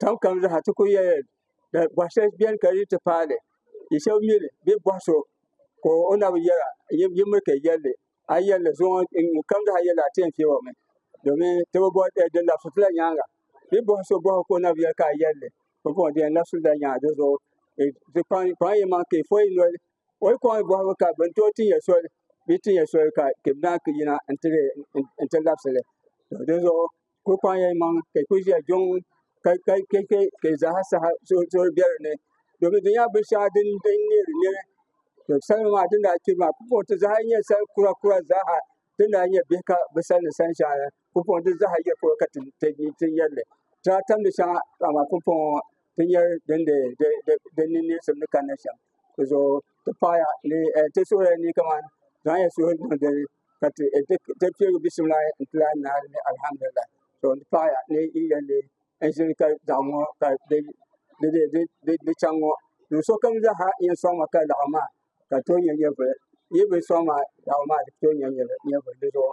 Tam kam zaha ti ku yɛli ka bɔhi shɛli bɛni ka di ti paali yi shɛba mi li bee bɔhi so ka o na bi yɛra yi mi ka yɛli li a yi yɛli li zuɣu ŋɔ kam zaha yɛli a ti yɛn fiɛbi o mi domin ti bi bɔhi di labisi ti la nyaaŋa bee bɔhi so bɔhi ka o na bi yɛli ka a yɛli li bi bɔhi di yɛn labisi la nyaaŋa di zuɣu di kpaŋ kpaŋ yi maŋ ka yi fɔ yi noli o yi kɔŋ yi bɔhibu ka bin tooi tin yɛ soli bee tin yɛ soli ka ka bi naan ka yina n ti labisi li di zuɣu ku kpaŋya imaŋ ka ku ʒiya jɔŋ ka ka ka ka ka zaha saha zooi bɛ dinni domin di nyɛla binshɛŋa din din nyɛ di nyɛli to salima maa din daa kpiri maa pumpɔŋti zaha nyɛ sal kura kura zaha din daa nyɛ bihi ka bi sal ni sani shɛŋa la pumpɔŋti zaha yɛ polo ka ti ti ti nyɛlli ti daa tamdi shɛŋa amaa pumpɔŋ ŋɔ ti nyɛ din de de de de ni niŋsim ni kanna shɛm di zuɣu ti paɣaya ni ti suhurila ni kamani zaŋya suhuri niŋ dini ka ti piɛligi bisimila n ti lahi naai ni alihamdulila to n ti paɣaya ni yi yɛn lee n ʒini ka doɣam ŋo ka di chɛŋ ŋo do sokam zaaha yɛn soŋma ka laɣam maa ka di tooi nyɛ nyɛvuli yi bi soŋ maa laɣam maa di tooi nyɛ nyɛvuli dizuɣu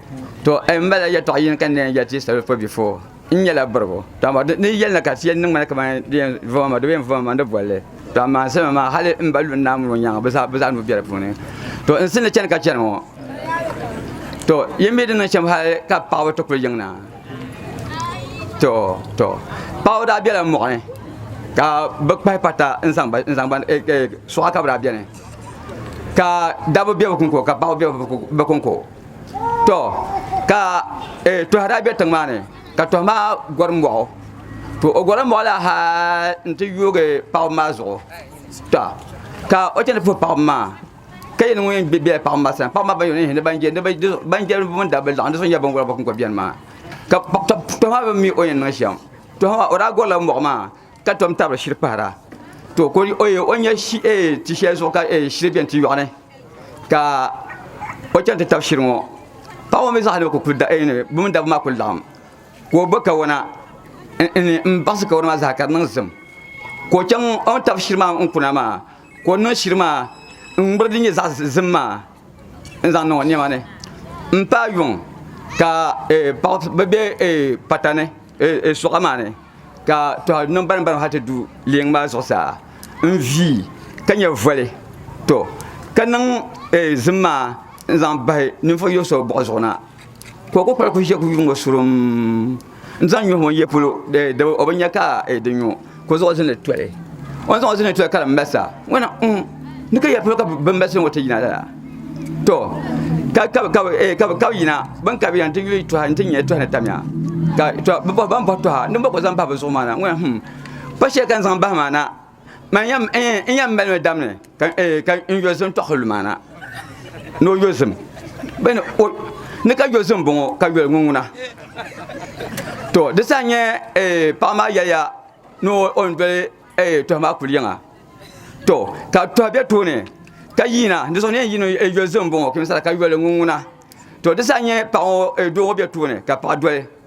to eh, n bala yɛtɔɣa yini ka n leen yɛli ti salo fo bifo n nyɛla birigu to amaa ni yɛli na ka ti yɛli niŋ ŋmani kamani di yɛn voma ma di bi yɛn voma ma ni bolli to amaa salima maa hali n ba lu n naamuni o nyaŋa bi zaa bi zaa nuu bɛ di puuni to n sini chɛni ka chɛni ŋɔ to yɛn mi di niŋ shɛm hali ka paɣaba ti kuli yiŋ na to to paɣaba daa biɛla moɣani ka bi kpahi pata n zaŋ ba n zaŋ ba eh, eh, suɣa ka bi daa biɛni ka dabba bɛ bi kunko ka paɣaba bɛ bi kunko to ka eh, tɔhi daa be tiŋ maa ni ka tɔhi maa gɔri mɔɣu to o gɔri mɔɣu la ha n ti yoogi paɣaba maa zuɣu to ka o chani puhi paɣaba maa ka yɛli ŋun yɛn bela paɣaba maa sani paɣaba maa ban yɛn ni ban je ban je bin dabba laɣim di so nyɛ binwala ba kun kɔ bɛni maa ka tɔhi maa bi mi o yɛn niŋ shɛm tɔhi maa o daa gɔrila mɔɣu maa ka tom tabiri shiri kpahara to ko o nya ti shɛli zuɣu ka shiri bɛni ti yɔɣuni ka o chɛni ti tabi shiri ŋɔ paɣa ŋɔ mi zaa ni kuli da bɛ mini dabba maa kuli laɣim ka o bo kawana n baɣasi kawana maa zaa ka di niŋ zim ka o chaŋ o ni tabi shiri maa n kuna maa ka o niŋ shiri maa n ŋmiri din nyɛ zaɣa zim maa n zaŋ niŋ o niɛma ni n paai yuŋ ka paɣa bi bɛ pata ni. e suɣa maa ni ka tɔha niŋ barim barim hali ti du leeŋ maa zuɣusaa n-vii ka nyɛ voli tɔ ka niŋ e zim maa n-zaŋ bahi ninvuɣ yɔh so buɣa zuɣu na ka o kukpal ku ʒe ku yuŋ o surum n-zaŋ nyuhi ŋun ye polo dab o bi nya ka e di nyu. ka o zuɣu zini toli o zuɣu zini toli ka di masa ŋɔna mm, ni ka yɛ polo ka bin masi ŋɔ ti yina lala to ka eh, yina bin ka bi yɛn ti yuli tɔha n ti nyɛ tɔha ni tamya ka to bi bɔhi ban bɔhi tɔha ni bɔ ko zaŋ bahi bi zuɣu maa na ŋɔna hmm pa shɛli ka n zaŋ bahi maa na man yɛn eh, mali mi dam ni ka eh, ka n yozim tɔɣi lumaana ni o yozim bɛ ni o ni ka yozim bɔŋɔ ka yoli ŋuŋuna to di sa nyɛ eh, paɣa maa yɛliya ni o ni doli eh, tɔhi maa kuli yiŋa to ka tɔhi bɛ tooni ka yiina ni zuɣu ni yɛn yiini eh, yozim bɔŋɔ ka yoli ŋuŋuna to di sa nyɛ paɣa ŋɔ eh, doo ŋɔ bɛ tooni ka paɣa doli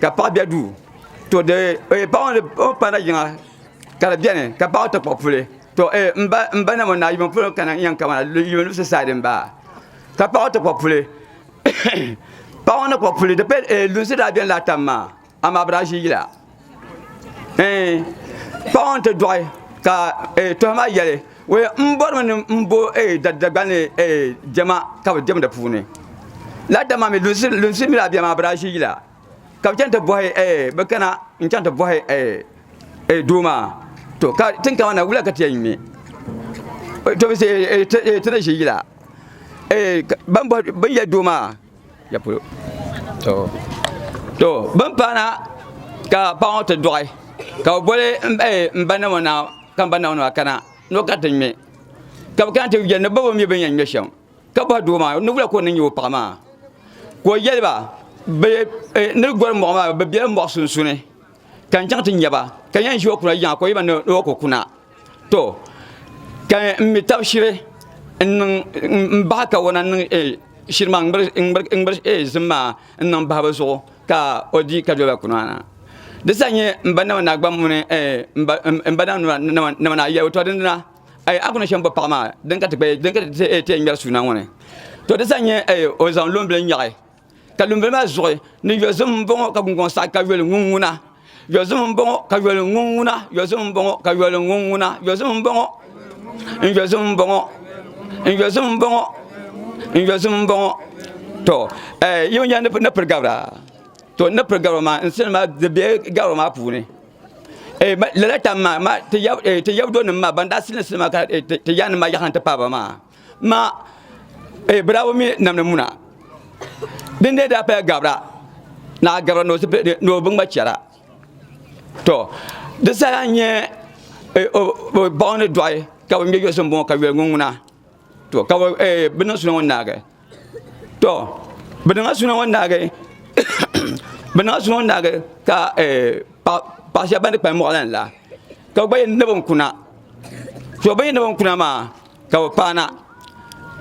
ka paɣa bɛ duu to paɣa ŋo ni o ni paŋda yiŋa ka di biɛni ka paɣa ŋo ti kpuɣi puli to n ba namu naa yuun pun kana n yɛn kaba na yuun limsi saadi n baa ka paɣa ŋo ti kpuɣi puli paɣa ŋo ni kpuɣi puli lunsi daa biɛni laa tam maa amaa bi daa ʒi yila paɣa ŋo ni ti doɣi ka tooni maa yɛli M bɔrimi ni m bo Dagbani jɛma ka bɛ diɛmdi puuni lala dama mi lunsi mi daa beni maa bɛ daa ʒi yila ka bɛ kana n chaŋ ti bɔhi doo maa to ka tiŋkama na wula ka ti yɛn ŋme ti ni ʒi yila bini yɛli doo maa. ya polo to to bin paana ka paɣa ŋo ti doɣi ka bi boli n ba namo na ka n ba namo na kana ni o kana ti ŋmɛ ka bi kana ti yɛli ni bobo mii bin yɛn ŋmɛ shɛm ka bohi doo maa niwula ka o ni nyɛ o paɣa maa ka o yɛliba ni gori moɣu maa bi biɛla moɣu sunsuuni ka n chaŋ ti nya ba, ka yɛn ʒi o kuna yiŋa ka o yiba ni o ku kuna. To, ka n mi tab shiri n bahi kawana n-niŋ eh, shiri maa n-ŋmiri eh zim maa n-niŋ bahi bɛ zuɣu ka o di ka doliba kuna na. Di sa n-nyɛ m ba nama ni a gba muni eh, m ba nama ni a yɛligu. To, dindina eh, a ku niŋ shɛm bo paɣa maa din ka ti ti eh ŋmɛri suuna ŋɔ ni. To, di sa n-nyɛ eh, o zaŋ loombili n-nyaɣi. ka lunbili maa zuɣu ni yozim n boŋo ka gungoŋ saɣi ka yoli ŋun ŋuna yozim n boŋo ka yoli ŋun ŋuna yozim n boŋo ka yoli ŋun ŋuna yozim n boŋo n yozim n boŋo n yozim n boŋo n yozim n boŋo to yiŋ nya ni piri gabira to ni piri gabira maa n sani maa di bɛ gabira maa puuni lala tam maa ti yabdo nim maa ban daa silisi maa ka ti yaanima yaɣa n ti paaba maa Ma eh, bɛ daa bi mi namdi muna. Din dee daa paya gabira, ni a gabira ni o bi ŋma chɛra. To, di saha n-nyɛ eh, baɣa ni dɔɣi ka bɛ ŋme yɔsi m-bɔŋɔ ka yoli ŋun ŋuna. To, ka bɛ eh, niŋ suli ŋun naagi. to bɛ niŋla suna ŋɔ naagi bɛ niŋla suna ŋɔ naagi ka eh, paɣa shɛba ban di kpalim mɔɣila la ka gba yɛn ni bin kuna to bɛ yɛn ni bin kuna maa ka bɛ paana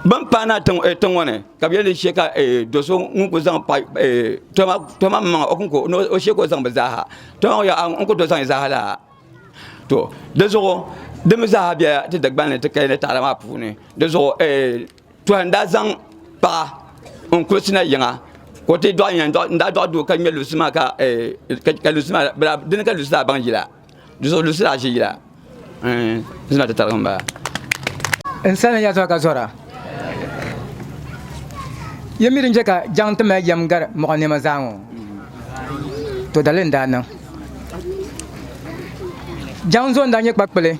bɛn paana tiŋ eh, ŋɔ ni ka bɛ yɛn di shɛ ka eh, do so ŋun ku zaŋ pa eh, toma maŋa o kunko o shɛ ka o zaŋ bi zaaha toma ŋɔ yaa n ku to zaŋ zaaha laa to di zuɣu di mi zaaha bela ti Dagbanli ti kaya ni taada maa puuni di zuɣu eh, Tuha n daa zaŋ paɣa n kuli sina yiŋa ka o ti dɔɣi yɛn n daa dɔɣi doo ka ŋmɛ lunsi maa ka eh, lunsi maa bala dini ka lunsi daa baŋ yila zuɣu lunsi daa ʒi yila eh, zina ti tarigi n bala. N sani n ya zuɣu ka zɔra. Yɛm mi din chɛ ka jaŋ ti mali yɛm gari mɔɣu nɛma zaa ŋɔ, to dali n daa niŋ. Jaŋ zo n daa nyɛ kpakpili.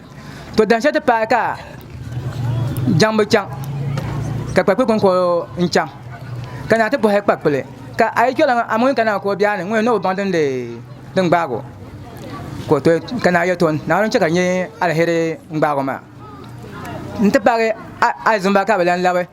to dan shɛli ti paai ka jaŋ bi chaŋ ka kpakpili kon ko n chaŋ ka naa ti bɔhi kpakpili ka a yi chɔla a ŋuni ka naa ko biɛni ŋuni ni o baŋ din din gbaago ka to ka naa yɛ ton naawuni chɛ ka nyɛ alheri n gbaago maa n ti paagi alizumba ka bi lan labi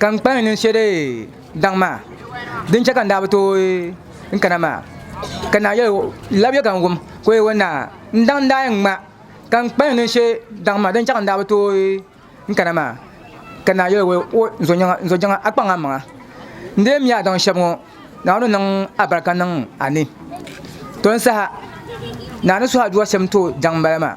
Ka n kpahi niŋ shɛli daŋ maa, din chɛ ka n daa bi tooi n kana maa. Ka naa yɛli o, Labiya ka n wum. Ka o yɛli o, Naa, n daŋ n daa yɛn ŋma ka n kpahi niŋ shɛli daŋ maa, din chɛ ka n daa bi tooi n kana maa. Ka naa yɛli o, N zo jiŋa, a kpaŋ a maŋa. N di yɛn mi a daŋ shɛb ŋɔ, Naawuni niŋ alibarika niŋ a ni. Tɔ n saha, naa ni suhi a duwa shɛm n-tooi daŋ m-bala maa.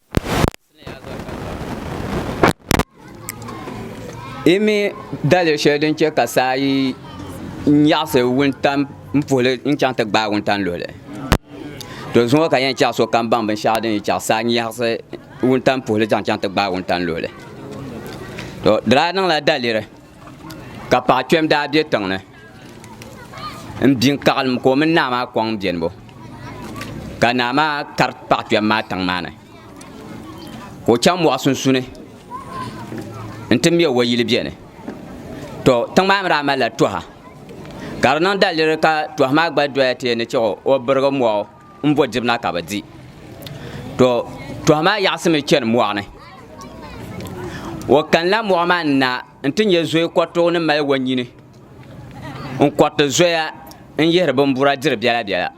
Yi mi daliya shɛli din chɛ ka saa yi nyaɣasi wuntaŋ n puhuli n chɛŋ ti gbaai wuntaŋ luhili to zuŋɔ ka yɛn chɛɣu sokam baŋ binshaɣu din chɛ ka saa nyaɣasi wuntaŋ puhuli zaŋ chɛŋ ti gbaai wuntaŋ luhili to di daa niŋla daliri Ka paɣ kpɛm daa be tiŋ ni m-bi n-kaɣilim ka o mini naa maa kɔŋ bɛnibu. Ka naa maa kari paɣ kpɛm maa tiŋ maa ni ka o chaŋ mɔɣu sunsuuni nti me o yili bɛni. Tɔ! Tiŋ maa mi daa malila tɔha ka di niŋ daliri ka tɔha maa gba doya ti yɛn ni chɛ o birigi mɔɣu. n bo dibu na ka bɛ di. To tɔha maa yaɣisimi chani mɔɣu ni. O kanila mɔɣu maa ni na nti nya zoya kɔritigu ni mali wanyini n-kɔriti zoya n-yihiri bimbura diri biɛla biɛla.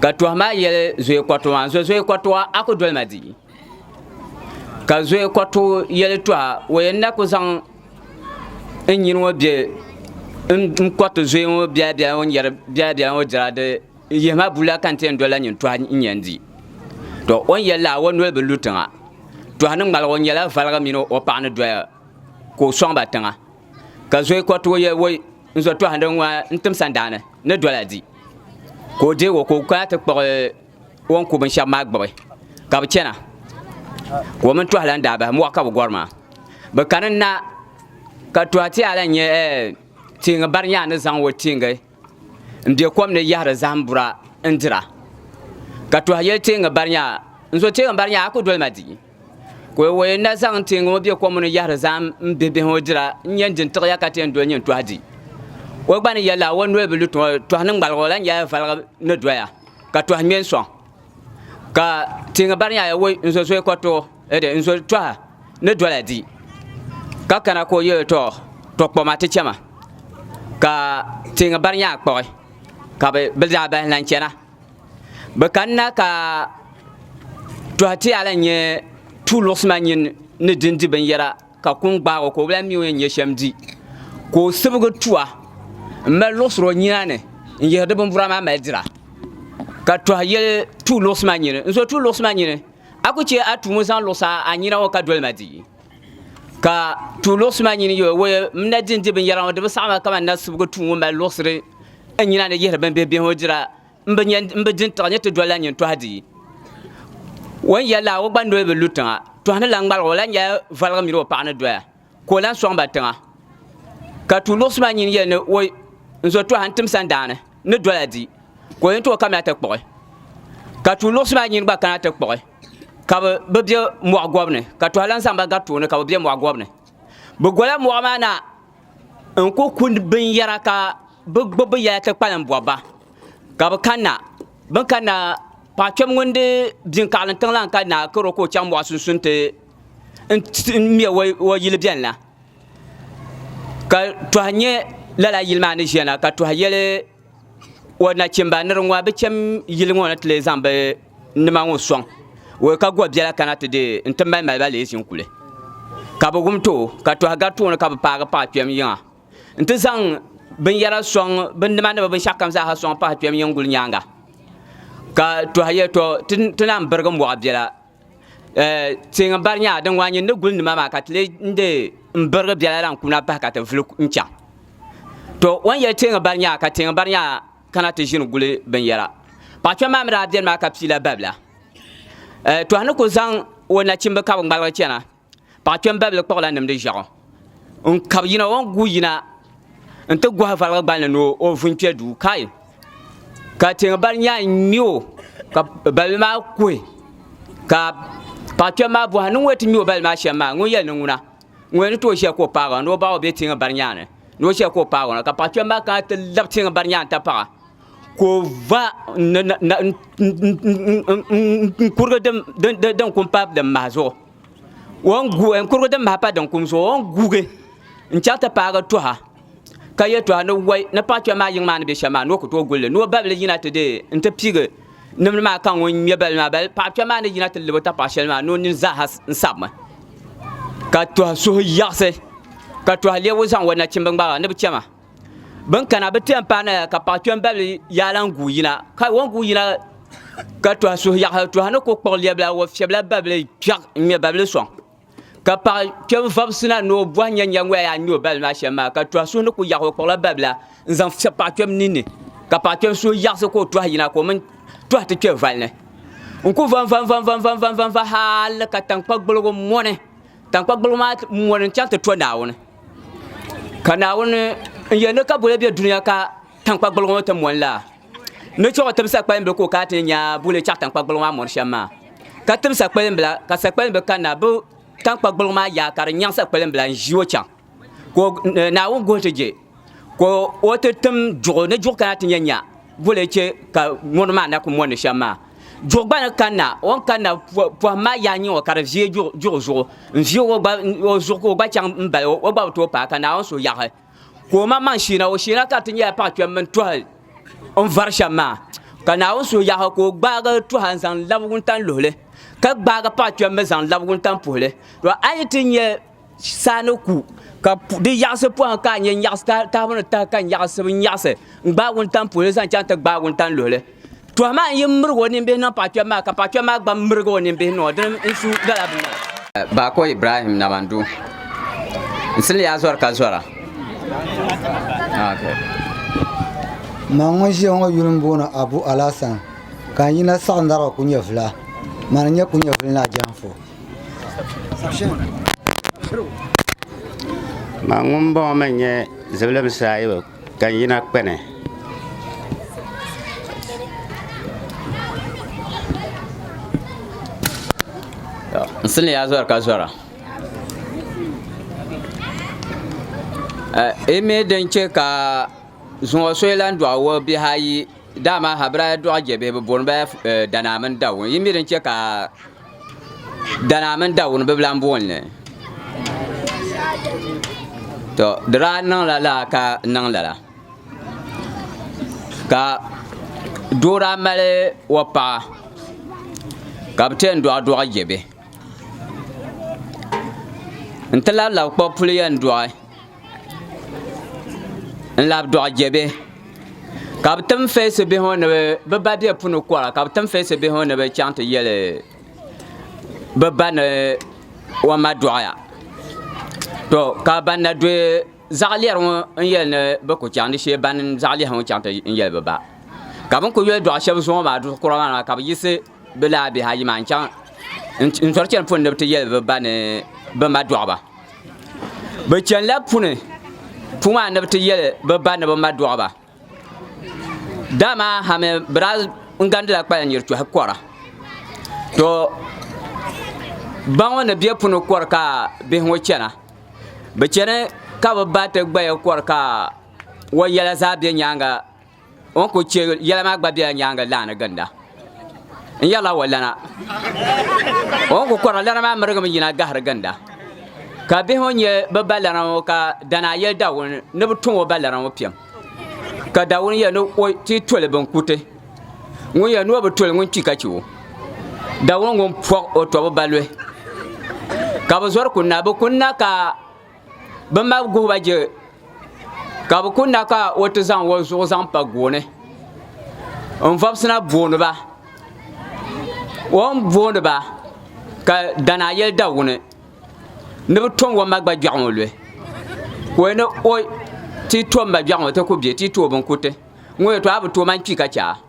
Ka tɔha maa yɛli zoya kɔritigu maa n-zo zoya kɔritigu a ku doli ma di. ka zoya kɔ tooi yɛli tɔha o yɛn na ku zaŋ n nyini ŋɔ bɛ n kɔriti zoya ŋɔ biɛla biɛla ŋɔ yɛri biɛla biɛla ŋɔ dira di n yihi ma bulla ka n ti yɛn doli la nyini tɔha n yɛn di to o ni yɛli la o noli bi lu tiŋa tɔha ni ŋmaligi o nyɛla valiga mini o paɣa ni doya ka o sɔŋ ba tiŋa ka zoya kɔ tooi yɛli woy n zo tɔha n tim sandaani ni dɔla di ka o deei o ka o kana ti kpuɣi o ni ku binshɛba maa gbubi ka bɛ chana ka o mini tɔha lan daa bahi mɔɣu ka bɛ gɔri maa bɛ kani n-na ka tɔha ti a lan nyɛ teeŋa bari nyaa ni zaŋ o teeŋa m-be kom ni yahiri zahim bura n-dira ka tɔha yɛli teeŋa bari nyaa n zo teeŋa bari nyaa a ku doli ma di Ka o yɛn na zaŋ teeŋa ŋɔ be kom ni yahiri zahim m-bihibihi ŋɔ dira n-nyɛ n-din tiɣi ya ka ti yɛn doli nyin tɔhi di. O gba ni yɛl la, o noli bi lu tiŋa, tɔhi ni ŋmaligi o lahi nyɛla valigi ni doya, ka tɔhi ŋme n-sɔŋ. Ka teeŋa bari nya ya, Woi, n zo zoya kɔriti o, ɛde, n zo tɔha ni dola di. Ka kana ka o yɛl o, Tɔ, tɔ kpɔɣi ma ti chɛ ma. Ka teeŋa bari nya kpɔɣi, ka bɛ daa bahi lan chana. Bɛ kanna ka tɔhi ti a lan nyɛ tuuluɣisima nyin ni din di binyɛra ka kuŋ gbaag o ka o bi lan mi o yɛn nyɛ shɛm di. Ka o sibigi tua m-mali luɣisiri o nyina ni n-yihiri di bimbura maa mali dira. Ka tɔhi yɛli tuuluɣisima nyin, N zo tuuluɣisima nyin, a ku chɛ a tuumo zaŋ luɣisi a nyina ŋɔ ka doli ma di. Ka tuuluɣisima nyin yɛl o, Wee, m na din di binyɛra ŋɔ di bi saɣim a kaman n na sibigi tua ŋɔ mali luɣisiri n nyina ni yihiri bimbihi bihi ŋɔ dira. n bi nya n bi di n-tiɣi ni ti dolila nyin tɔha dii. O ni yɛli la, o gba noli bi lu tiŋa. Tɔha ni lan ŋmaligi o lan nyɛla voligu mini o paɣa ni doya, ka o lan sɔŋ ba tiŋa. Ka tuui luɣisi maa nyin yɛli ni, O, n zo tɔha n-tim sandaani ni dola di, ka o ni tooi kamina ti kpuɣi. Ka tuui luɣisi maa nyin gba kana ti kpuɣi, ka bɛ bi be mɔɣu gɔbu ni, ka tɔha lan zaŋ ba gari tooni ka bɛ be mɔɣu gɔbu ni. Bɛ gola mɔɣu maa na. n ku ku binyɛra ka bi gbubi bi yɛla ti kpalim bɔbi ba ka bi kanna bin kanna paɣa kpɛm ŋun di bini kaɣali tiŋ la n kanna karo ka o chaŋ mɔɣu sunsuuni ti ŋmɛ o yili bɛni la ka tɔha nyɛ lala yili maa ni ʒiya na ka tɔha yɛli o nachimba ni di ŋɔ bi chɛm yili ŋɔ ni ti lee zaŋ bi nima ŋɔ sɔŋ o ka go biɛla kana ti deei n ti mali maliba lee ʒini kuli ka bi wum too ka tɔha gari tooni ka bi paagi paɣa kpɛm yiŋa n ti zaŋ binyɛra sɔŋ bin nima ni bi binshɛɣu kam zaaha sɔŋ pahi kpɛm yiŋ guli nyaanga ka tɔha yɛli tɔ ti lahi birigi mɔɣu biɛla Teeŋa bari nyɛla din ŋwa nyini ni guli nima maa ka ti lee de n birigi biɛla lan kuna bahi ka ti vuli n chaŋ to o ni yɛli teeŋa bari nyɛla ka teeŋa bari nyɛla kana ti ʒini guli binyɛra paɣa kpɛm maa mii daa biɛni maa ka pii la babila to a ni ku zaŋ o nachimbi ka bi ŋmaligi chɛna Paɣa kpɛmbabili kpuɣila nimdi ʒiɛɣu n kabi yina o ni guui yina n ti gohi valigu gbalini ni o vu n kpɛ duu kai ka tiŋ bali nya n ŋmɛ o ka balibi maa kuhi ka paɣa kpɛm maa boha ni ŋun yɛn ti ŋmɛ o balibi maa shɛm maa ŋun yɛli ni ŋuna ŋun ni tooi ʒiya ka o paagi o ni o baɣa o bɛ tiŋ bari nyaanga ni ni o ʒiya ka o paagi o na ka paɣa kpɛm maa kana ti labi tiŋ bari nyaanga n ti paɣa ka o va n kurigi din kum paai din maha zuɣu n kurigu din bahi pa din kum zuɣu o ni guugi n chɛri ti paagi tuha ka yɛltɔɣa ni wai ni paɣa kpɛm maa yiŋ maa ni bɛ shɛm maa ni o ku tooi gulli ni o babili yina ti deei n ti piigi nimdi maa ka ŋun ŋmɛ balli maa bali paɣa kpɛm maa ni yina ti lɛbi o tapaɣa shɛli maa ni o nini zaaha n sabimi ka tuha suhu yiɣisi ka tuha lɛbigu zaŋ o nachimbi ŋmaga ni bi chɛma bin kana bi tɛm paai naya ka paɣa kpɛm babili yaa lan guui yina ka o guui yina ka tɔha suhu yaɣa tɔha ni ku kpuɣi lɛbila o fiɛbila babili kpiɛɣ n ŋmɛ babili sɔŋ ka paɣa kpɛm vabisina ni o bɔhi nyɛ nyɛ ŋɔya yaa n nyɛ o babili maa shɛm maa ka tɔha suhu ni ku yaɣa o kpuɣila babila n zaŋ fiɛbi paɣa kpɛm ninni ka paɣa kpɛm suhu yaɣasi ka o tɔha yina ka o mini tɔha ti kpɛ vali ni n ku vanvanvanvanvanvanvanva hali ka tankpa gboligu mɔni tankpa gbaligu maa mɔni n chaŋ ti to naawuni ka naawuni n yɛ ni ka boli bɛ dunia ka tankpa gbaligu ŋɔ ti mɔni la ni chuɣu tim sakpali bila ka o kana ti ni nya boli chaŋ tankpa gbaligu maa mɔni shɛm maa ka tim sakpali bila ka sakpali bila kanna bi tankpa gbaligu maa yaai ka di nyaŋ sakpali bila n ʒi o chaŋ. ka o- eh, Naawuni guhi ti je ka o- o ti tim duɣu ni duɣu kana ti nya nya boli n che ka mɔri maa na ku mɔndi shɛm maa duɣu gba ni kanna o ni kanna po- pohim maa yaha n-nyɛ o ka di viei duɣu duɣu zuɣu n viei o gba n- o zuɣu ka o gba chaŋ m bala o gba bi tooi paai ka Naawuni so yaɣi ka o maŋmaŋ sheena o sheena ka di ti nyɛla paɣa kpɛm mini tɔhi n vari shɛm maa ka Naawuni so yaɣi ka o gbaagi tɔha n zaŋ labi wuntaŋ luhili ka gbaagi paɣa kpɛm mi zaŋ labi wuntaŋ puhili to a yi ti nya saa ni ku ka di yaɣasi pɔhim ka a nya nyaɣasi tahibu ni tahi ka nyaɣasi bi nyaɣasi n gbaagi wuntaŋ puhili zaŋ chaŋ ti gbaagi wuntaŋ luhili tɔha maa n yi mirigi o nimbihi niŋ paɣa kpɛm maa ka paɣa kpɛm maa gba mirigi o nimbihi niŋ o dini n su gala bi Baako Ibrahim Namandu n sili yaa zɔri ka zɔra Ma ŋun ʒiya ŋɔ yuli n booni Abu Alasan ka n yina saɣindariba kunyɛvila. Ma ni nyɛ kunyɛvili ni a jɛhimfo. Maa ŋun bɔŋɔ mi nyɛ zibilim saayibu ka n yina kpɛni. N sili ya zɔri ka zɔra. Yi mi din chɛ ka zuŋɔ so yi lan dɔɣi o bihi ayi dama Habiraya dɔɣi jɛbihi bɛ booni ba ya Danaa mini Dawun. Yi mi din chɛ ka. Dana mini Dawuni bibila n booni li to di daa niŋla laa ka niŋ lala ka doo daa mali o paɣa ka bi tɛn dɔɣi dɔɣi je bɛ n ti labi labi kpuɣi puli yɛn dɔɣi. n labi dɔɣi je bihi ka bi tim feesi bihi ŋɔ ni bi ba be puni kɔra ka bi tim feesi bihi ŋɔ ni bi chaŋ ti yɛli bi ba ni o ma dɔɣiya to ka ban na dɔyi zaɣilɛri ŋɔ n yɛli ni bi ku chaŋ di shee ban zaɣilɛhi ŋɔ chaŋ ti yɛli bi ba ka bin ku yɔli dɔɣi shɛba zuŋɔ maa duɣi kura maa na ka bi yiɣisi Bɛ laa bihi ayi maa n-chaŋ n-zɔri chani puni ni bɛ ti yɛli bɛ ba ni bɛ ma dɔɣi ba. Bɛ chanila puni puu maa ni bɛ ti yɛli bɛ ba ni bɛ ma dɔɣi ba. Dama ha mi bɛ daa n-gandila kpalan nyiri tɔhi kɔra. To ba ŋɔ ni be puni kɔri ka bihi ŋɔ chana. Bɛ chani ka bɛ ba ti gbaya kɔri ka o yɛla zaa be nyaaŋa. o ni ku chɛ yɛla maa gba bela nyaaŋa laa ni ginda. N yɛrila wa lana. O ni ku kɔrila lana maa mirigimi yina gahiri ginda. Ka bihi ŋɔ nya bɛ ba lana ŋɔ ka Danaa yɛli Dawuni ni bɛ tɔŋ o ba lana ŋɔ piɛm. Ka Dawuni yɛli ni o ti toli binkuti. Ŋun yɛli ni o bi toli ŋun kpi ka chɛ o. Dawuni ŋun pɔɣ o tɔbu ba luhi. Ka bɛ zɔri kunna, bɛ kunna ka bi ma guhiba je ka bi ku na ka o ti zaŋ o zuɣu zaŋ pa gooni n vɔbisina booniba o ni booniba ka dana yɛli Dawuni ni bi tom o ma gba gbɛɣu ŋɔ luhi ka o ni o ti tom ma gbɛɣu ŋɔ ti ku bɛ ti tooi binkuriti ŋɔ yɛtɔɣa bi tooi maŋ kpi ka chɛ a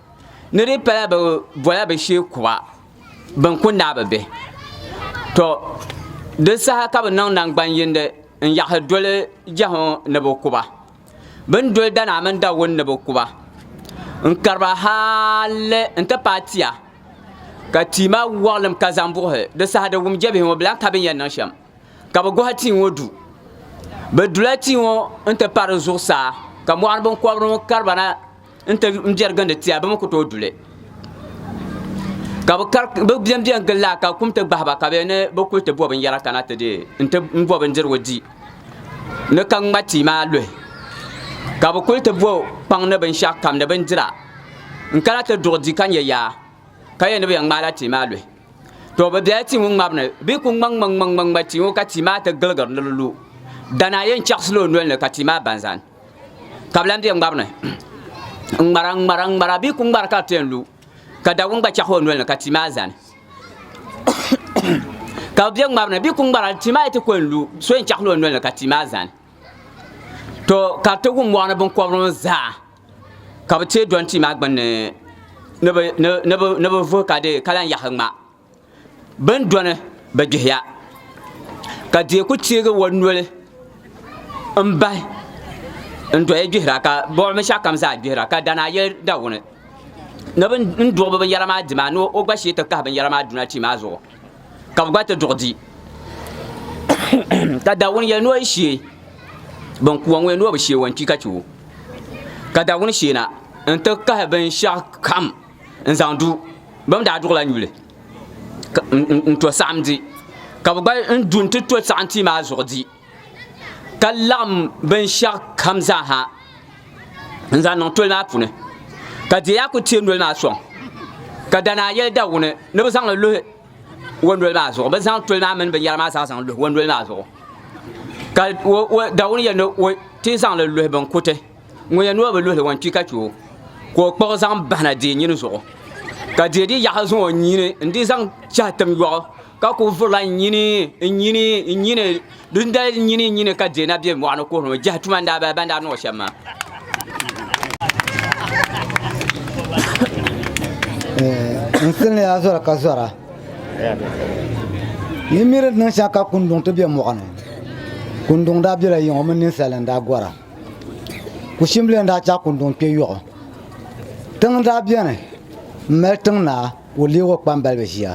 ni di pala bɛ bɔla bɛ shee kuba bɛn ku naai bɛ bihi. Tɔ! Di saha ka bɛ niŋ naŋgban yindi n-yaɣisi doli jɛhu ni bɛ ku ba. Bɛ ni doli danaa mini dawuni ni bɛ ku ba n-kari ba hali nti paai tia, ka tia maa wɔɣilim ka zaŋ buɣisi. Di saha di wum jɛbihi ŋɔ bɛ lan ka bɛ ni yɛn niŋ shɛm, ka bɛ gɔhi tia ŋɔ du. Bɛ dula tia ŋɔ nti pari zuɣusaa, ka mɔɣini biŋkɔbiri ŋɔ kari ba na. n ti biɛri gindi tia bi mi ku tooi duli ka bi bɛn bɛn gili laa ka kum ti gbahi ba ka bɛ ni bi kuli ti bo binyɛra kana ti deei n ti n bo bindirigu di ni ka ŋma tia maa luhi ka bi kuli ti bo kpaŋ ni binshaɣu kam ni bindira n kana ti duɣu di ka nyɛ yaa ka yɛ ni bi yɛn ŋmaala tia maa luhi to bi biɛla tia ŋɔ ŋmabu ni bi ku ŋma ŋma ŋma ŋma ŋma tia ŋɔ ka tia maa ti giligiri ni di lu dana a yɛn chaɣasila o noli ni ka tia maa ban zani ka bi lan bɛ ŋmari ni n ŋmara n ŋmara n ŋmara bee ku ŋmari ka bi piɛn lu ka dawuni gba chɛɣu o noli ni ka tia maa zani ka bi bɛ ŋmari ni bee ku ŋmara tia maa yi ti kuli lu so yɛn chɛɣu o noli ni ka tia maa zani to ka ti wum mɔɣuni binkɔbiri ŋɔ zaa ka bi teei dɔni tia maa gbunni ni bi vuhi ka di ka lan yahi ŋma Bini dɔni bi gbihiya, ka diɛ ku teegi o noli m-bahi n-doya gbihira, ka bɔbi binshɛɣukam zaa gbihira, ka dana a yɛli Dawuni ni bɛ ni duɣi bɛ binyɛra maa di maa, ni o gba shee ti kahi binyɛra maa duna tia maa zuɣu, ka bɛ gba ti duɣi di. Ka Dawuni yɛli ni o yi shee bin ku o ŋɔ ni o bi shee o n-kpi ka chɛ o. Ka Dawuni sheena nti kahi binshɛɣukam. n zaŋ du bɛn daa duɣila nyuli n-to saɣim di ka bɛ gba n du nti to saɣim tia maa zuɣu di ka laɣim binshɛɣu kam zaa ha n zaŋ niŋ toli maa puuni ka di yaa kuli teei noli maa sɔŋ ka danaa yɛli Dawuni ni bɛ zaŋ li luhi o noli maa zuɣu bɛ zaŋ toli maa mini binyɛra maa zaa zaŋ luhi o noli maa zuɣu ka Dawuni yɛli ni o ti zaŋ li luhi binkuti ŋun yɛn noo bi luhili ŋɔ n-kpi ka kpi o, ka o kpuɣi zaŋ bahi na deei nyini zuɣu, ka deei di yaɣu zaŋ o nyini n-di zaŋ chahi tim yɔɣu, ka kul vurila n-nyini, n-nyini, n-nyini, di ni dali n-nyini, n-nyini ka deei na be mɔɣu ni kuhiri o jɛhi tuma n-daa bala bɛn daa niŋ o shɛm maa. N silini ya zɔra ka zɔra, yi miri di niŋ shɛŋa ka kunduŋ ti be mɔɣu ni, kunduŋ daa bela yiŋɔ mini ninsal ni daa gɔra. Kushimbili n daa chaɣ kunduŋ kpɛ yɔɣu. Tiŋ n daa beni m mali tiŋ naa ka o leeg o kpambaliba ʒia.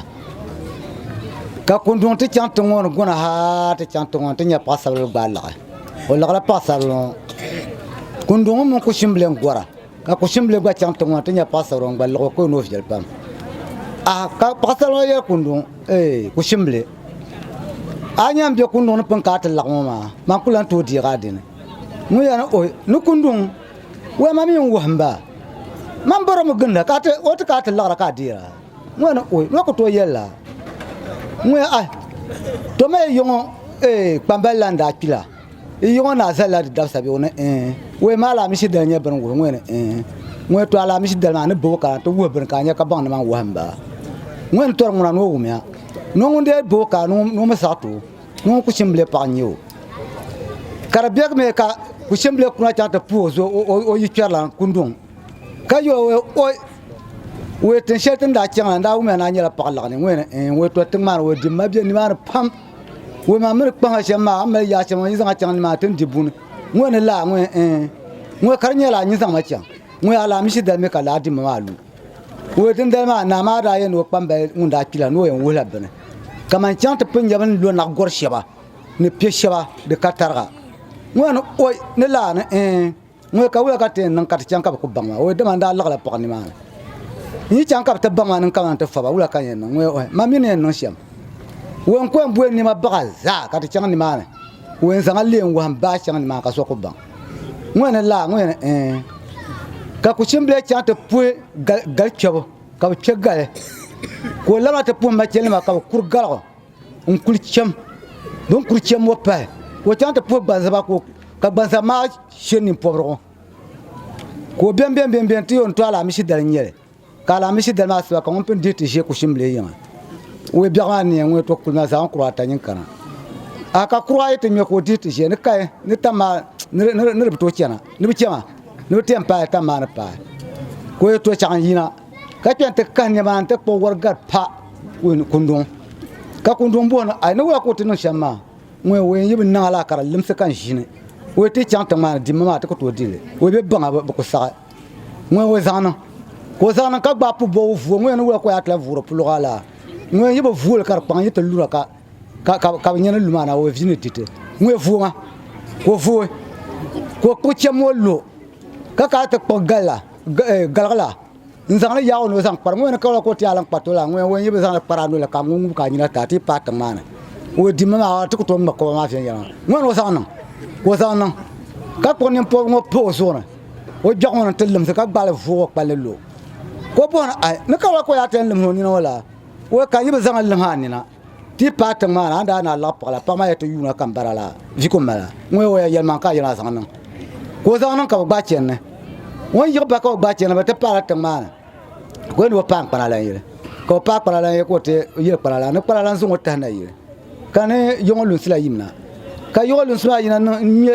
Ka kunduŋ ti chaŋ tiŋ ŋɔ ni guna ha ti chaŋ tiŋ ŋɔ ni ti nya paɣisaribila gbaai laɣi. O laɣila paɣisaribila ŋɔ. Kunduŋ mini kushimbili n gora. Ka kushimbilig gba chaŋ tiŋ ŋɔ ti nya paɣisara ŋun gba liɣ o ka o noo viɛli pam. A, ka paɣisara ŋɔ yɛli kunduŋ, Ee, kushimbili, a yi nya m-be kunduŋ ni pini ka a ti laɣim o maa, man ku lan tooi deeg a dini. Ŋun yɛli ni, Ohi, ni kunduŋ, wee ma mi n-wuhim ba. Man bɔri mi ginda ka a ti, o ti ka a ti laɣira ka a deeg a. Ŋun yɛli ni, Ohi, ma ku tooi yɛli la. Ŋun yɛli, Ahi, toma yi yɔŋɔ, ee, kpambali lan daa kpi la. N yiŋɔ naa zalila di dabisa bɛ? O ni ee. Wee maa alaamishi dali nyɛ bini wuhi ŋɔ ni ee. Ŋɔ to alaamishi dali maa ni boo ka n ti wuhi bini ka a nya ka baŋ nimaŋ wɔhim ba? Ŋɔ ni tɔri ŋuna ni o wumiya. Nɔ ŋun dee boo ka ni ŋun mi saɣi ti o, ŋɔ ŋun kuchimbile paɣa n-nyɛ o. Ka di beg mi ka kuchimbile kuna chaŋ ti puhi o zo o yikpɛrilan kunduŋ ka yo o Wee tiŋ shɛli ti ni daa chaŋ la n daa wumiya ni a nyɛla paɣa laɣinli ŋɔ ni ee. Ŋɔ to tiŋ maa ni o dimma be nimaani pam. Ŋɔ maa miri kpaŋa shɛm maa mali yaa shɛm ŋɔ yi zaŋa chaŋ ni maa tin di buni ŋɔ ni laa ŋɔ ɛɛ ŋɔ kari nyɛla nyi zaŋma chaŋ ŋɔ yaa laa mishi dali mi ka laa dimma maa lu ŋɔ din dali maa naa maa daa yɛn o kpambali ŋun daa kpila ni o yɛn wuhila bini kaman chaŋ ti pun nyɛbi ni lo naɣ gɔri shɛba ni piɛ shɛba di ka tariga ŋɔ ni oi ni laa ni ɛɛ Ŋuni ka wula ka ti yɛn niŋ ka ti chaŋ ka bɛ ku baŋ ma? Ɔi, dama n daa liɣila pɔɣu nimaani. N yi chaŋ ka bɛ ti baŋ ma ni n kana nti faba, wula ka n yɛn niŋ? Ŋuni, ɔi, man mi ni yɛn niŋ shɛm. Ɔi, n ku yɛn bɔi nɛma baɣa zaa ka ti chaŋ nimaani. Ɔi, n zaŋ a leei n-wahi m baa chaŋ nimaani ka so ku baŋ. Ŋuni, laa? Ŋuni yɛn, ɛɛn. Ka kuchimbilia chaŋ ti puhi gal, gal kpɛbu, ka bɛ kpɛ gali, ka o labina ti puhi machɛlinima ka bɛ kuri galigu. n kuli chɛm bi ni kuli chɛm ŋɔ pahi ka o chaŋ ti puhi gbanzaba ka gbanzaba maa shiri nini pobirigu ka o bɛn bɛn bɛn bɛn ti yɛn to alaamisi dali n nyɛli ka alaamisi dali maa sabi ka ŋuni pun dihi ti ʒɛ kushin bili yiŋa o yi biɛɣu maa ni yɛn ŋuni to kuli na zaɣi kura ata yini kana a ka kura ayi ti ŋmɛ ka o dihi ti ʒɛ ni kaya ni tam maa ni di bi to chɛna ni bi chɛma ni bi ti yɛn paai tam maa ni paai ka o yɛn to chaŋ yina. ka kpɛ n ti kahi niɛma n ti kpuɣi wari gari pa kunduŋ ka kunduŋ booni a ni wula ka o ti niŋ shɛm maa ŋun o yɛn yi bi niŋ alaa ka di limsi ka n ʒini o ti chaŋ tiŋ maa ni dimma maa ti ku tooi dili o bɛ baŋa bi ku saɣi ŋun o zaŋ niŋ ka o zaŋ niŋ ka gbaai pu bɔbu vuo ŋun yɛn ni wula ka o yaa tila vuuri puluɣu alaa ŋun yɛn yi bi vuoli ka di kpaŋ yi ti lura ka ka bi nyɛni luma na o vi ni diti ŋun yɛ vuo ŋa ka o vuo ka o kpuɣi chɛm o lo ka ka ti kpuɣi galla galigila n zaŋli yaag o ni o zaŋ kpari ŋo ni kabila ka o ti yaa laŋ kpari to la ŋo o yi bi zaŋli kpari a noli ka ŋun ŋub ka a nyina ti a ti paai tiŋ maa ni o dimmi maa a ti ku tooi ŋma koba maa viɛnyɛla maa ŋo ni o zaŋ niŋ ka o zaŋ niŋ ka kpuɣi nini pobi ŋo pa o zuɣu ni o gbɛɣu ŋo ni ti limsi ka gbaali vuugi o kpalli lo ka o bɔhi ni ai ni kabila ka o yaa ti yɛn limsi o nina ŋo la o ka yi bi zaŋli lim a nina Ti paai tiŋ maa na, a ni daa naa laɣi paɣa la, paɣa maa ya ti yuuna ka m bara la, vi ka o mali a. Ŋun ya o ya yɛlimaŋli ka a yɛn a zaŋ niŋ, ka o zaŋ niŋ ka bi gbaai chɛni ni. Ŋun yiɣi bahi ka bi gbaai chɛni ni, bɛ ti paai la tiŋ maa ni, ka o yɛli ni bɛ paai n kpana lan yili. Ka bɛ paai kpana lan yili, ka o ti yili kpana la, ni kpana lan zaŋ o tahi na yili, ka ni yiɣi ŋɔ lunsi la yim na. Ka yiɣi lunsi maa yina niŋ n-ŋme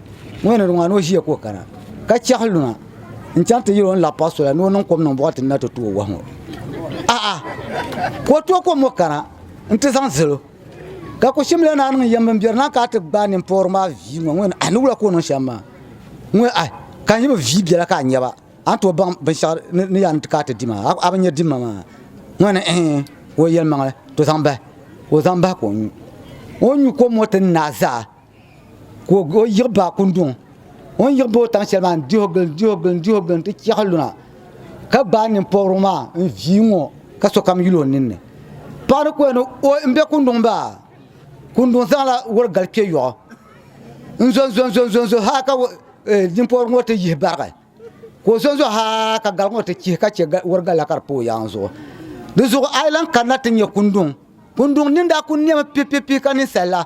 Ŋɔ ni di ŋɔ a ni o ʒiya ka o kana ka chɛɣi luna n-chaŋ ti yɛl o ni lahi paɣi sola ni o niŋ kom niŋ bɔɣati ni na ti tooi wahu ŋɔ. A'a! Ka o tooi kom ŋɔ kana nti zaŋ zali o. Ka Kushimla naa niŋ yɛm bimberi na ka a ti gbaai nimpɔri maa vii ŋɔ ŋɔ ni a ni wula ka o niŋ shɛm maa ŋɔ a ka n yi bi vii biɛla ka a nya ba a ni tooi baŋ binshɛɣu ni yaa ni ti ka a ti di maa a bi nya dimma maa ŋɔ ni ɛɛh o yɛlimaŋli to zaŋ bahi o zaŋ bahi ka o nyu o ni nyu kom ŋɔ ti ni na zaa ka o yiɣi ba kunduŋ o ni yiɣi ba o taŋ shɛli maa n diho gili n diho gili n diho gili n ti chɛɣi luna ka gbaai ninpɔbirigu maa n vii ŋɔ ka sokam yuli o ninni paɣa ni koya ni o n bɛ kunduŋ baa kunduŋ zaŋla woli gali kpɛ yoɣu n zonzonzonzo haa ka ninpɔbirigu ŋɔ ti yihi barigi ka o zonzo haa ka gali ŋɔ ti chihi ka chɛ wori gali la ka di pa o yaangi zuɣu di zuɣu a yi lahi kanna ti nyɛ kunduŋ kunduŋ nin daa ku niɛmi pipipi ka ninsal la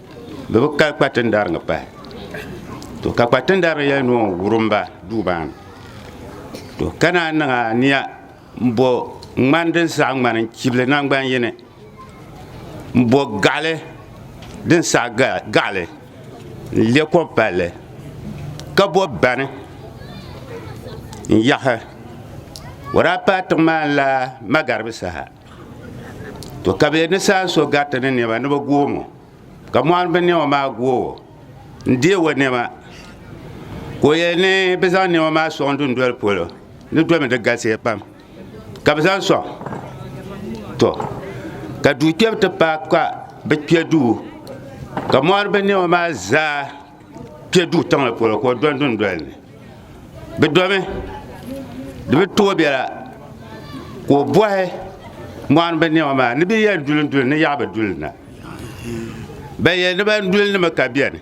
Bɛ bi ka kpatindariŋga pahi. To ka kpatindariŋga yɛli ni o wurim ba duu maa ni. To ka naan niŋ aniya m-bo ŋmani din saɣi ŋmani n-chibili naŋgban yini, m-bo gaɣili din saɣi gaɣili n-le kom palli, ka bo bani n-yaɣi. O daa paai tiŋ maa ni la magaribi saha. to ka bɛ ni saan so gariti ni nɛma ni bɛ goomo ka mɔɣini bɛ nɛma maa goowo n deei o nɛma ka o yɛli ni bɛ zaŋ nɛma maa sɔŋ dundoli polo di domi di galisiya pam ka bɛ zaŋ sɔŋ to ka duu kpɛbu ti paai ka bɛ kpɛ duu ka mɔɣini bɛ nɛma maa zaa kpɛ duu tiŋli polo ka o dɔni dundoli ni Bɛ domi di bi tooi bɛla ka o bɔhi mɔɣini bɛ nɛma maa ni bɛ yɛn duli duli ni yaɣi bɛ duli na bɛ yɛ ni ban duli nima ka bɛni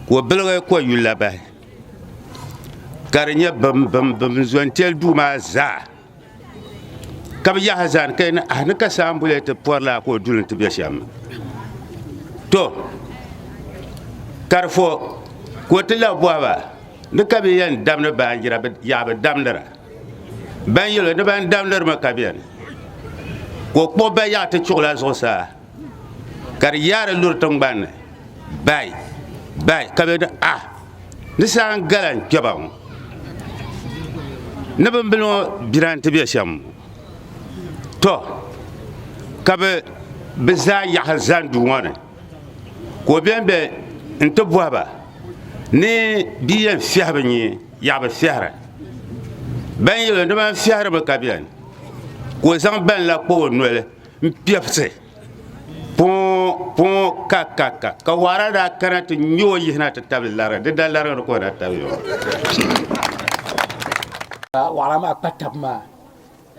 ka o biligi kɔ yuli la bahi ka di nyɛ bim bim bim zɔn tɛli duu maa zaa. ka bi yaha zani ka yɛn ah ni ka saa n boli ti pɔri la ka o duli ti bɛ shɛm to karifo ka o ti la bɔhaba ni ka bi yɛn damdi baanjira yaɣa bi damdira ban yɛlo ni ban damdiri mi ka biɛni ka o kpuɣi bayaɣa ti chuɣula zuɣusaa ka di yaari luri tingbanni bai bai ka be ni ah di saa n gala n kpɛba ŋɔ ni bimbili ŋɔ bira n ti be shɛm ŋɔ to ka be be zaa yaɣa zani duu ŋɔ ni ka o ben be n ti bɔhi ba ni bi yɛn fiɛhi bi nyee yaɣa bi fiɛhira ben yɛli o ni ban fiɛhiri mi ka beni ka o zaŋ ben la kpa o noli N-piɛbisi pɔɔ, pɔɔ, ka, ka, ka, ka waara daa kana ti nya o yihina ti tabili lari, di da larigiri ka o daa tabili o. Ka waara maa kpa tabi maa,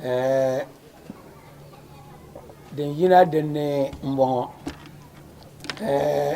eh, din yina din ni m-bɔŋɔ, eh,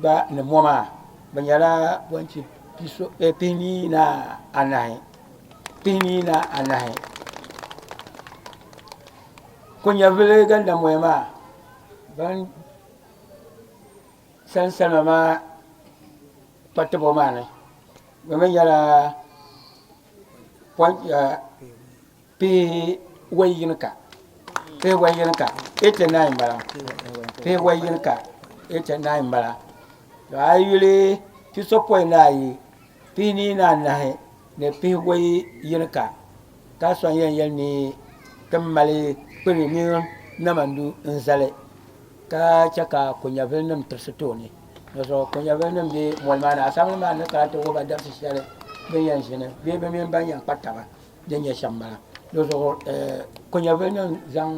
gba ni mɔ maa bɛ nyɛla bɔnchi pihinii ni anahi pihinii ni anahi konyɛvili gandamɔya maa ban sani salima maa kpatibɔ maa ni bɛ mi nyɛla Pee wai yini ka pee wai yini ka ete nine bala pee wai yini ka ete nine bala to a yuli pisopɔi ni ayi pihi nii ni anahi ni pihi wai yini ka ka sɔŋ yɛn yɛli ni ti mali kpini mini namandu n zali ka chɛ ka konyɛvili nim tirisi tooni di zuɣu konyɛvili nim bɛ mɔli maa ni asaawuli maa ni kana ti wuhiba dabisi shɛli bin yɛn ʒini bee bi mini ban yɛn kpa taba din nyɛ shɛm bala. Di zuɣu konyɛvilinim zaŋ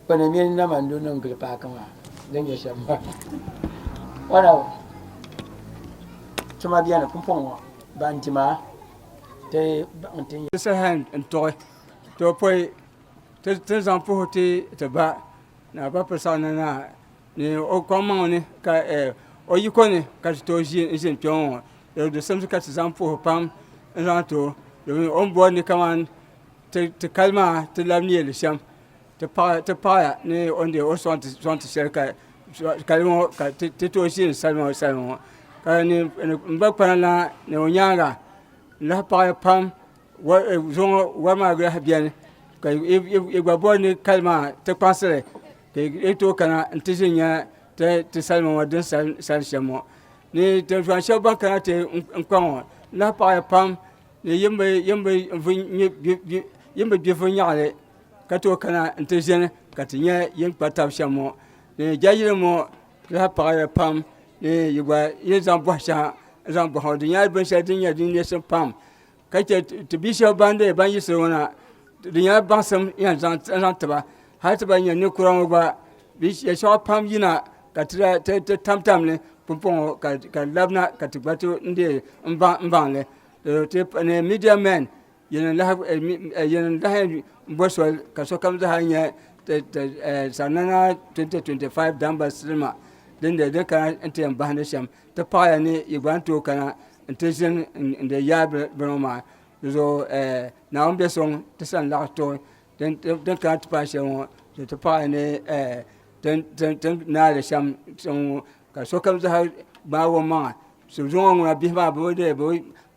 kpana mini nama n-lo niŋ gili paaki maa, din nyɛ shɛm bala. Tuma beni pumpɔŋɔ ŋɔ ban di maa ti baŋ ti nyɛ. Second n tuɣi ti o pɔi ti zaŋ puhi ti ba ni a ba pili saɣim na ni a. Ni o kpaŋmaŋ ni ka o yiko ni ka ti tooi ʒi n ʒini kpɛŋɔ ŋɔ di du simsi ka ti zaŋ puhi pam n zaŋ ti o domin o ni bori ni kamani ti kali maa ti labi neeli shɛm ti paɣaya ni o ni deei o sɔŋ ti shɛli ka kali ŋɔ ka ti tooi ʒini salima ŋɔ salima ŋɔ ka n gba kpana na ni o nyaanga n lahi paɣaya pam zuɣu ŋɔ wari maa lahi biɛni ka i gba bori ni kali maa ti kpaŋsili Ka yi tooi kana n ti ʒi nya ti salima ŋɔ din sal shɛm ŋɔ ni tintɔŋ shɛba ban kana ti n kpa ŋɔ n lahi paɣi ya pam ni yi ni bi gbi viɛnyɛɣili ka tooi kana n ti ʒini ka ti nya yi ni kpa tabi shɛm ŋɔ ni jɛnlini ŋɔ di lahi paɣi ya pam ni yi gba yi ni zaŋ bɔhi shɛŋa n zaŋ bɔhi ŋɔ di nyɛla binshɛli din nyɛ din neei shim pam. ka chɛ ti bia shab ban yiɣisi ŋɔ na di nyɛla baŋsim n yɛn zaŋ tiba hali ti ban nyɛ ninkura ŋɔ gba shɛli soŋa pam yina ka ti tamtam li puuni ŋɔ ka di labina ka ti gba tooi deei n baŋli midia men yɛn n lahi bɔ soli ka sokam zaa nyɛ sanana 2025 damba silima din kana ti yɛn bahindi shɛm Ti paɣaya ni yi gba ni tooi kana n ti ʒini n di yaai bini ŋɔ maa di zuɣu Naawuni biɛ sɔŋ ti sani laɣa too din kana ti paai shɛli ŋɔ ka ti paɣaya ni ti naai li shɛm tiŋ ŋɔ ka sokam zaa gbaagi o maŋa zuŋɔ ŋuna bihi maa bi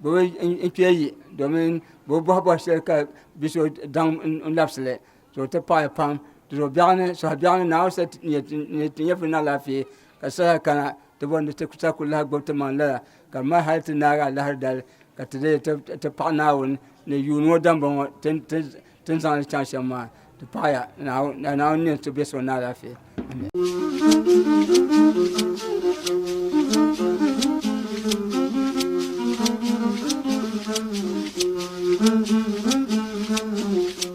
bi kpee yi domin bi bi bɔhi bɔhi shɛli ka bia so daŋ n labisili ka o ti paɣaya pam suhubiɛɣu ni Naawuni sa ni ti nyɛ bini alaafee Ka saha kana ti bɔri ni ti sa kul lahi gbibi ti maŋ lala, ka di mali hal ti naagi alahi dali ka ti leei ti paɣ Naawuni ni yuun ŋɔ dambɔŋɔ ti ni zaŋ li chaŋ shɛm maa. Ti paɣ ya Naawuni ka Naawuni nya ti bɛ suŋ ni alaafee. Amen.